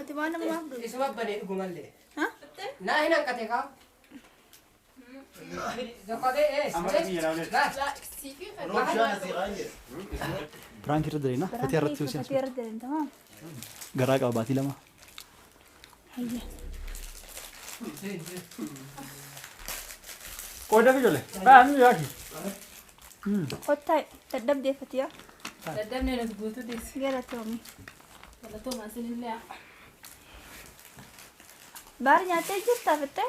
Ati waan nama maaf dhufu? Isuma banee dhugumallee. Ha? Naa hin hanqate kaa. Piraank irra deemna. Fatii irratti Fatii hojjetu. irra deemta moo? Garaa qaba baatii lama. Hayya. Qooda fi jole. Baa mi yaaki. Kottaa dadhabdee Fatiyaa. Dadhabnee nuti guutuu deessi. Galatoomi. Galatoomaa sinillee. Baar nyaattee jirtaa fittee?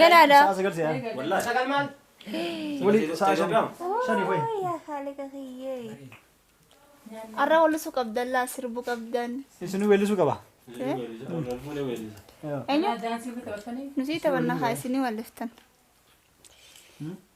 Ganaadha. Sa'a sagal si'a. Wallahi. Sagal maal? Wali sa'a shan. Shani fa'i. Yaa haaliqa kiyyee. Arra wallisu qabdan laa sirbu qabdan. Isinuu weellisuu qaba. Eenyu? Nuti taphanna haa isinii walliftan.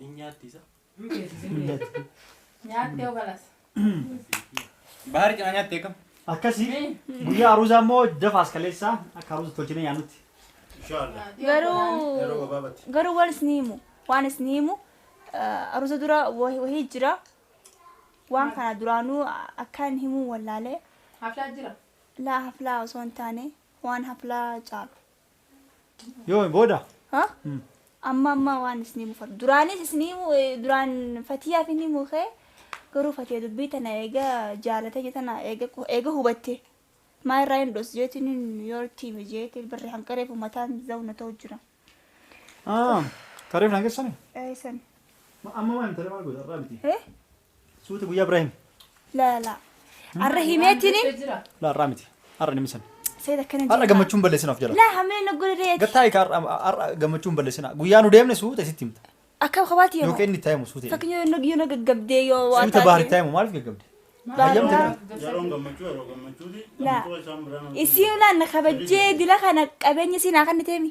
Hin nyaatti isa. Hin beeksisi hin beeksisi. Nyaattee yoo galas. Bahar cinaa nyaatte akkam? Akkasi guyyaa aruuzaa immoo dafa as kaleessaa akka aruuza tolchinee nyaannutti. Inshallah. Yeroo Garuu gabaabatti. garuu waan isin himu waan isin himu eh, aruuza dura wahi- wahii jira waan kana duraanuu akkaan himuu wallaalee Haflaa jira. laa haflaa osoo hin taane waan haflaa caalu. Yoomi booda? Ha? Amma amma waan isinii mufatu. Duraanis isinii mu- eh, duraan fatiyaaf inni mukee garuu fatiya dubbii tana eega jaalatee jetana eega qu- eega hubatte maa irraa hin dhoos jeetiin hin yoo itti hime jeetiin barri hanqareef ummataan zawna ta'u jira. Ah, kareef na keessani? Eesan. Amma waan intala maal goota irraa biti? Eh? Suuta guyyaa biraa himi. La la. Arra himeetini. La arraa miti. Arra nimi san. Seet akkana jedha. Arra gammachuun balleessin of jala. La hamee na godhe reeti. Gattaa egaa arra arra gammachuun balleessina. Guyyaa nu deemne suuta isitti himta. Akka kabaati yoo. Yookiin inni itti himu suuta. Fakkiin yoo yoo na gaggabdee yoo waa Suuta baari itti himu maaliif gaggabde? Baara. Yeroon gammachuu yeroo gammachuuti. La. Gammachuu isaan biraan. Isiin laan na kabajjee dila kana qabeenya siinaa kan niteemi.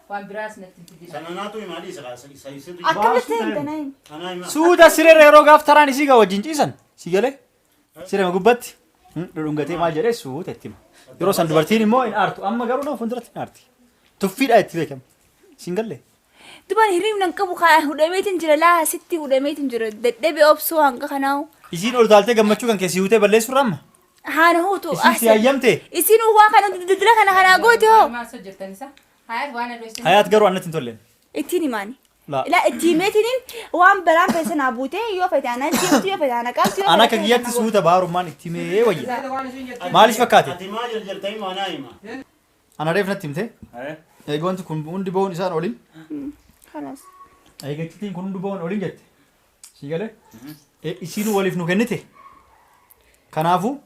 Waan biraas natti hin fidina. Sana naatu hima adii isa kaasa isa isa tu. Akkamitti Baasuu hin ta'e. ganayin? Anaa hima. Suuta sirera yeroo gaaf taraan isii gaa wajjin ciisan si galee sirema gubbatti hmm, dhudhungatee maal jedhee suuta itti hima. Yeroo san dubartiin immoo hin aartu amma garuu nama fuulduratti hin aarti. Tuffiidhaa itti beekama. Siin gallee. Dubaan hiriibna hin qabu kaa hudhameetiin jira laa sitti hudhameetiin jira dadhabe obsuu hanga kanaawu. Isiin ol taaltee gammachuu kan keessi hiwutee balleessuurra amma Haana huutu. Isin si hayyamte? Isin waan kana dildila kana kanaa goote hoo. Hayaat garuu annatti hin tolleen. Ittiin himaani. Laa. Ilaa itti himeetiniin waan balaan fe'e sanaa buutee yoo fe'e taanaan deemtu yoo fe'e taanaan qabdu yoo An fe'e akka taanaan kiyyatti gootu. suuta baarummaan itti himee wayya. Maaliif fakkaate? Ati maa jarjartanii maanaa hima? Ana reef natti himte. Haya. Eega wanti kun hundi ba'uun isaan olin. Kanas. Eega iccitiin kun hundi ba'uun olin jette. Sii galee? Isiin waliif nu kennite. Kanaafuu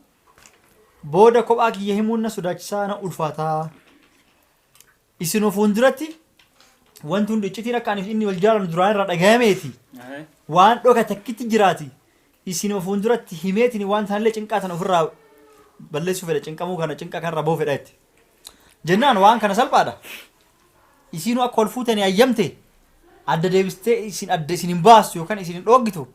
booda kophaa kiyya himuun na sodaachisaa na ulfaataa. Isin of fuulduratti wanti hundi iccitiin akka ani fi inni wal jaalannu duraan irraa dhagayameeti. Waan dhoka takkitti jiraati. Isin of fuulduratti himeetiin waan taanillee cinqaa tana ofirraa balleessuu fedha cinqamuu kana cinqa kanarraa bahuu fedha jetti. Jennaan waan kana salphaadha. Isiinuu akka wal fuutanii ayyamte adda deebistee isin adda isin hin baastu yookaan isin hin dhooggitu.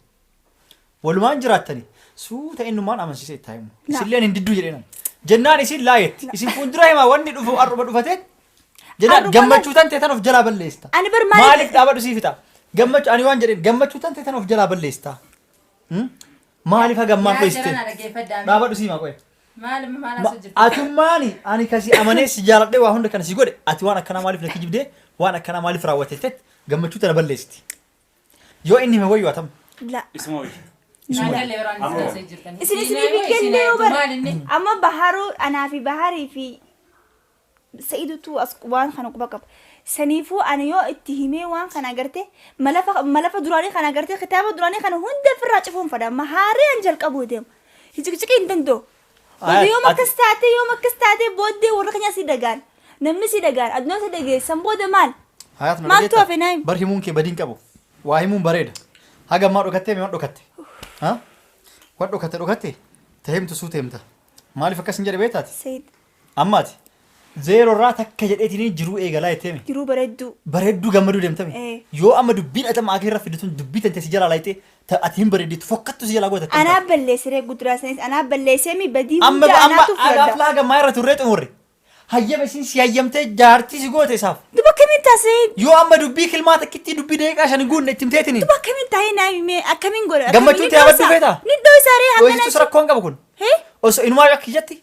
Walumaan jiraattani suuta innumaan amansiisee itti himu. Isilleen hin didduu jedheenan. Jennaan isin laa jetti. Isin fuuldura himaa wanni dhufu har'uma dhufateet. Jennaan Har'uma gammachuu tan teetan of jalaa balleessita. Ani bar maaliif- Maaliif dhaabadhu sii fixa? Gammachuu ani waan jedheen gammachuu tan teetan of jalaa balleessita. Hmm? Maaliif hagammaan Yaa dhoyste? jarana dhaggeeffadhaa. Dhaabadhu sii maa qo'e. Maal amma maal haasoo jirtu? Atummaani ani kasi amanee si jaaladhee waa hunda kana si godhe ati waan akkanaa maaliif na kijibdee waan akkanaa maaliif raawwate jettee gammachuu tana balleessiti. Yoo inni hime wayyu atam. La. Isuma wayya. Isuma wayya. Naagalee yeroo Amma haasoo jirtan. Isin isinii Siinaa fi moo siinaa kennee yoo jechuun bara. maal inni? Amma baharuu anaa fi baharii fi Sa'idutu as waan kana quba qaba. Saniifuu ani yoo itti himee waan kana agarte malafa malafa duraanii kana agarte kitaaba duraanii kana hunda ofirraa cufuun fadha amma haaree an jalqabuu deema. Hiciqiciqii hin danda'u. Aya, Boda yoom ati- akkas taatee yoom akkas taatee booddee warra keenya si dagaan namni si dagaan addunyaa si dageessan booda maal? Hayaat na Maaltu dhageettaa? hafe naayim? Bar himuun kee badiin qabu. Waa himuun bareeda. Haga ammaa dhokattee mee waan dhokatte? Ha? Waan dhokatte dhokatte? Ta himtu suuta himta. Maaliif akkas hin jedhe beektaati? Sayid Amma ati zeeroo irraa takka jedheetiin jiruu eegalaa jetteemi. Jiruu bareedduu. Bareedduu gammaduu deemtami. Ee. Yoo amma dubbiin ati amma akee irra fidde tun dubbii tantee si jalaa laayxee ta ati hin bareeddeetu fokkattu si jalaa goote akkam Anaa taate? balleessiree guduraa sanis anaa balleesseemi badii Amma hunda amma anaatu agaaf fudhadha. laaga maa irra turree xumurre. Hayyama isiin si hayyamtee jaartii si goote isaaf. Duba akkamiin taasee? Yoo amma dubbii kilmaa takkittii dubbii daqiiqaa shan guunne itti himteetini. Duba akkamiin taa'ee naa himee akkamiin godha? Gammachuu Akkamiin ta'e abaddu dhoysa? feetaa? Ni dhoysa ree hangana. Dhoysitus rakkoon qabu kun. Hee? Osoo inumaa akka kiyyatti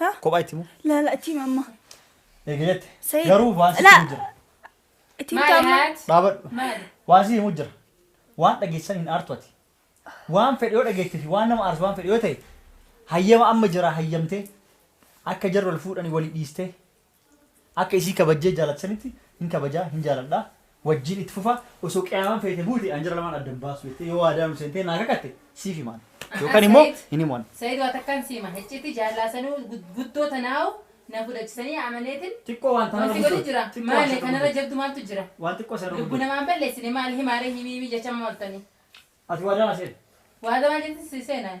Ha? Kophaa itti himu. Laala itti hima amma. Eega jette. Sayid. Garuu waan sitti Laa. himu jira. Itti himta amma. Dhaabadhu. Waan sitti himu jira. Waan dhageessan hin aartu ati. Waan fedhe yoo dhageette fi waan nama aarsu waan fedhe yoo ta'e hayyama amma jira hayyamtee akka jarri wal fuudhanii walii dhiistee Akka isii kabajjee jaalatu sanitti hin kabajaa, hin jaaladha, wajjiin itti fufa, osoo qiyaamaan feete buute an jara lamaan adda hin baasu jettee yoo waadaa nu seentee naa kakatte siif himaan. Yookan immoo hin himan. Said waa takkaan si hima hicciitii jaallaa sanuu guddoo tanaahu na fudhachisanii amaneetin Xiqqoo waan tanarra wanti godhu jira guddoo. maale kanarra jabdu maaltu jira Waan xiqqoo sanarra lubbu guddoo. namaa hin balleessine maal himaaree himii himii jechaa maaltanii Ati waadaa naa seente. waadaa maal jettin si seenaan?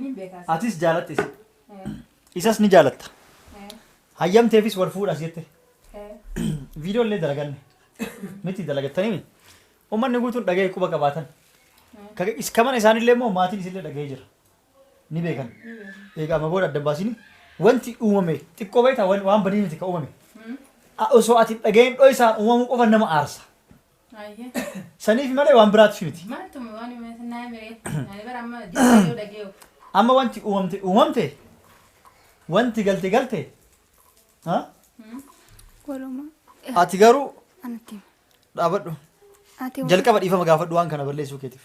Niin beekaas. Atis jaalatte isa. Isas ni jaalatta. Hayyamteefis wal fuudhas jette. Viidiyoo illee dalaganne. Miti dalagattanii uummanni guutuun dhaga'ee quba qabaatan. Ka- is- Ka mana isaanillee immoo maatiin isillee dhaga'ee jira. Ni beekan. Egaa amma booda adda hin baasini. Wanti uumame xiqqoo beektaa wan- waan badii miti ka uumame. A- Osoo ati hin dhaga'in dho'isaan uumamuu qofa nama aarsa. Ayya. Saniif malee waan biraatiif miti. Maaltu waan himatu naa miree. Ani bara amma deebi'ee yoo dhagee'u. Amma wanti uumamte uumamte wanti galte galte ha? Walumaa. ati garuu Anatti hima. dhaabadhu Ati jalqaba dhiifama gaafadhu waan kana balleessuu keetiif.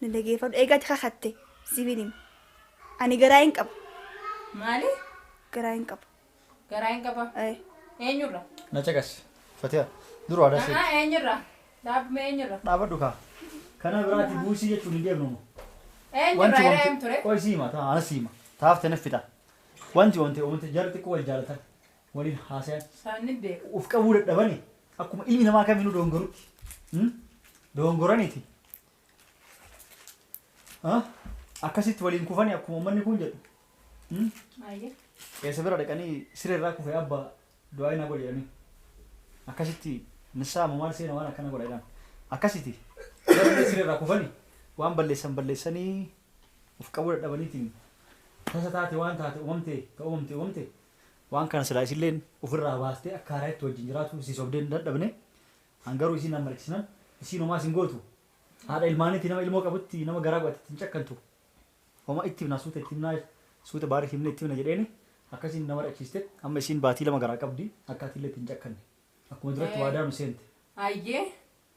Na dhageeffadhu. Eega ati kakatte siifin hima. Ani garaa hin qaba. Maali? Garaa hin qaba. Garaa hin qaba? Ayi. Eenyurra? Na caqasi. Fatiya. Dur waadaa si. Haa eenyurra? Dhaabme eenyurra? Dhaabadhu kaa. Kana biraa ati buusii jechuun hin deemnu amma. Eenyurra hira eem ture? Qoy si hima taa ana si hima. Taafte naf fixa. Wanti wante uumte jarri xiqqoo wal jaalatan. waliin haasayan. Isaan nin beeka. Of qabuu dadhabani akkuma ilmi namaa kamiinuu doongorutti. Hmm? Doongoraniiti. Ha? Akkasitti waliin kufani akkuma uummanni kun jedhu. Hmm? Ayyee. Eessa bira dhaqanii siree irraa kufee abba du'aa hin godhe jedhanii. Akkasitti nissaa moo maal seena waan akkana godha jedhan. Akkasitti garuu siree irraa kufani waan balleessan balleessanii of qabuu dadhabaniitiin tasa taate waan taate uumamte ta uumamte uumamte Waan kana silaa isilleen uf irraa baastee akka haarayatti wajjin jiraatuu isii sobdee hin dadhabne. An garuu isii nan markisnan isiin homaas hin gootu. Haadha ilmaaniiti nama ilmoo qabutti nama garaa godhatetti hin cakkantu. Homa itti himnaa suuta itti himnaa suuta baariif himnee itti himna jedheeni akkasiin na marachiiste. Amma isiin baatii lama garaa qabdi akka atiillee itti hin cakkanne. Akkuma duratti waadaa nu seente. Hayyee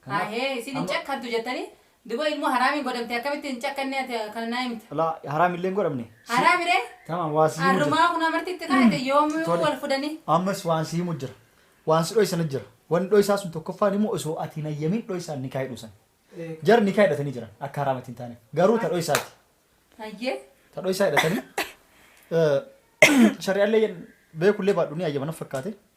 Kanaaf Haayee isin hin amma. cakkantu jettanii duba ilmoo haraamiin godhamte akkamitti hin cakkanne ati kana naa himta. Laa haraam illee hin godhamne. Si- Haraami ree? Tamam waan si himu jira. Arrumaa kun amarti itti kaa'ate yoomuu Tole. wal fudhanii. Ammas waan si himu jira. Waan si dhoysan jira. Waan dhoysaa sun tokkoffaan immoo osoo ati hin hayyamin dhoysaan nikaa hidhuu san. Jar nikaa hidhatanii jiran akka haraamatti hin taaneef. Garuu ta dhoysaati. Hayyee. Ta dhoysaa hidhatanii. eh, Shari'allee beekullee baadhu ni hayyama na fakkaate.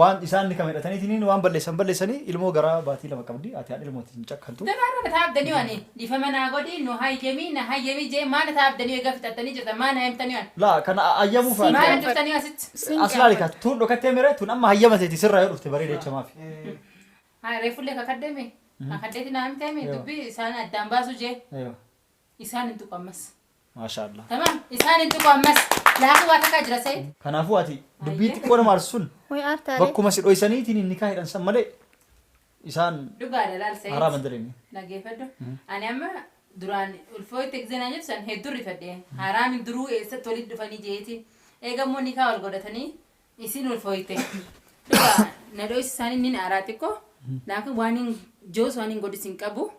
Waan isaan ni kama hidhataniitiin waan balleessan balleessanii ilmoo garaa baatii lama qabdi ati haadha ilmootiin hin cakkantu. Daraara na taa abdanii ani dhifama naa godhi nu hayyami na hayyami jee maa na taa abdanii egaa fixattanii jirtan maa na hayyamtanii ani. Laa kana hayyamuuf ati. Maal jirtanii asitti. As laali kaa tuun dhokattee mire tuun amma hayyama seeti sirraa yoo dhufte bareeda jecha maafi. Haa reefullee kakaddeemi. Kakaddeeti naa himteemi dubbii isaan addaan baasu jee. Isaan hin tuqu ammas. Maashaallah. Tamam isaan hin tuqu ammas. Laafuu waa takkaa jira Said. Kanaafuu ati dubbii Ayyee. xiqqoo nama arsun Way aartaa ree. bakkuma si dhoysaniitiin nikaa hidhan san malee isaan Dhugaadha laal Said. haraama hin daleenye. Dhageeffadhu. Ani amma duraan ulfoo itti egzeenaa jirtu san hedduu rifadhe. Haraami duruu eessatti walitti dhufanii jeeti. Eega immoo nikaa wal godhatanii isin ulfoo itti. Dhugaa na dho'isi isaanii nin aaraa xiqqoo. Laakiin waan hin joos waan hin godhis hin qabu.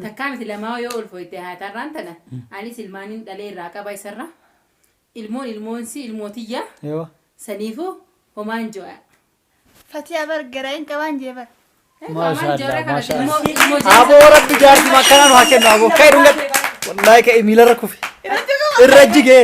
Takkaa miti lamaa yoo ol fooyte haati har'aan tana anis ilmaanin dhalee irraa qaba isarra ilmoon ilmoonsii ilmoo tiyya Yoo. saniifuu homaan jo'a. Fatiyaa bar garaa hin qabaan jee bar. Maashaa Allah, maashaa Allah. Aboo rabbi jaartii makkanaan haa kennu aboo ka'e dhungatti. Wallaahi ka'e miilarra kufe. Irra jigee.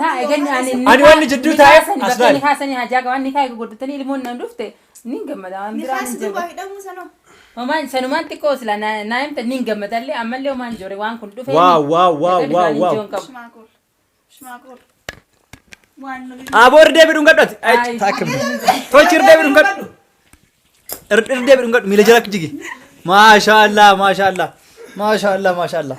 Laa egan ani ni Ani waan jidduu taa'eef as as baali. ni kaasanii hajaa qaban ni kaa'e godhatanii ilmoon nan dhufte ni gammada waan biraa ni jaba. Homaan sanumaan xiqqoo sila na- naa himta ni gammadallee ammallee homaan joore waan kun dhufee. Waaw, waaw, waaw, waaw, waaw. Aboo irra deebiidhuun gadhati. Tolchi irra deebiidhuun gadhu. Irra irra deebiidhuun gadhu miila jala jigi. Maashaallah maashaallah maashaallah maashaallah.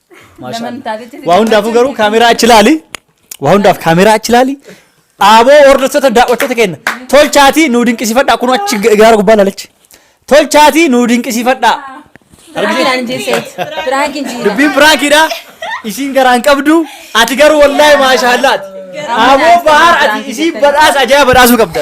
Waa hundaafuu garuu kaameraa achi ilaali. Waa hundaaf kaameraa achi ilaali. Dhaaboo hordoftoota daawwattoota keenya. Tolchaatii nuu dinqisiifadhaa kunuu achi gaara gubbaa ilaalichi. Tolchaatii nuu dinqisiifadhaa. Dubbiin piraankidha. Isiin garaa hin qabdu. Ati garuu wallaahi maashaallaati. Dhaaboo bahar ati isiin badhaasa ajaa'iba badhaasuu qabda.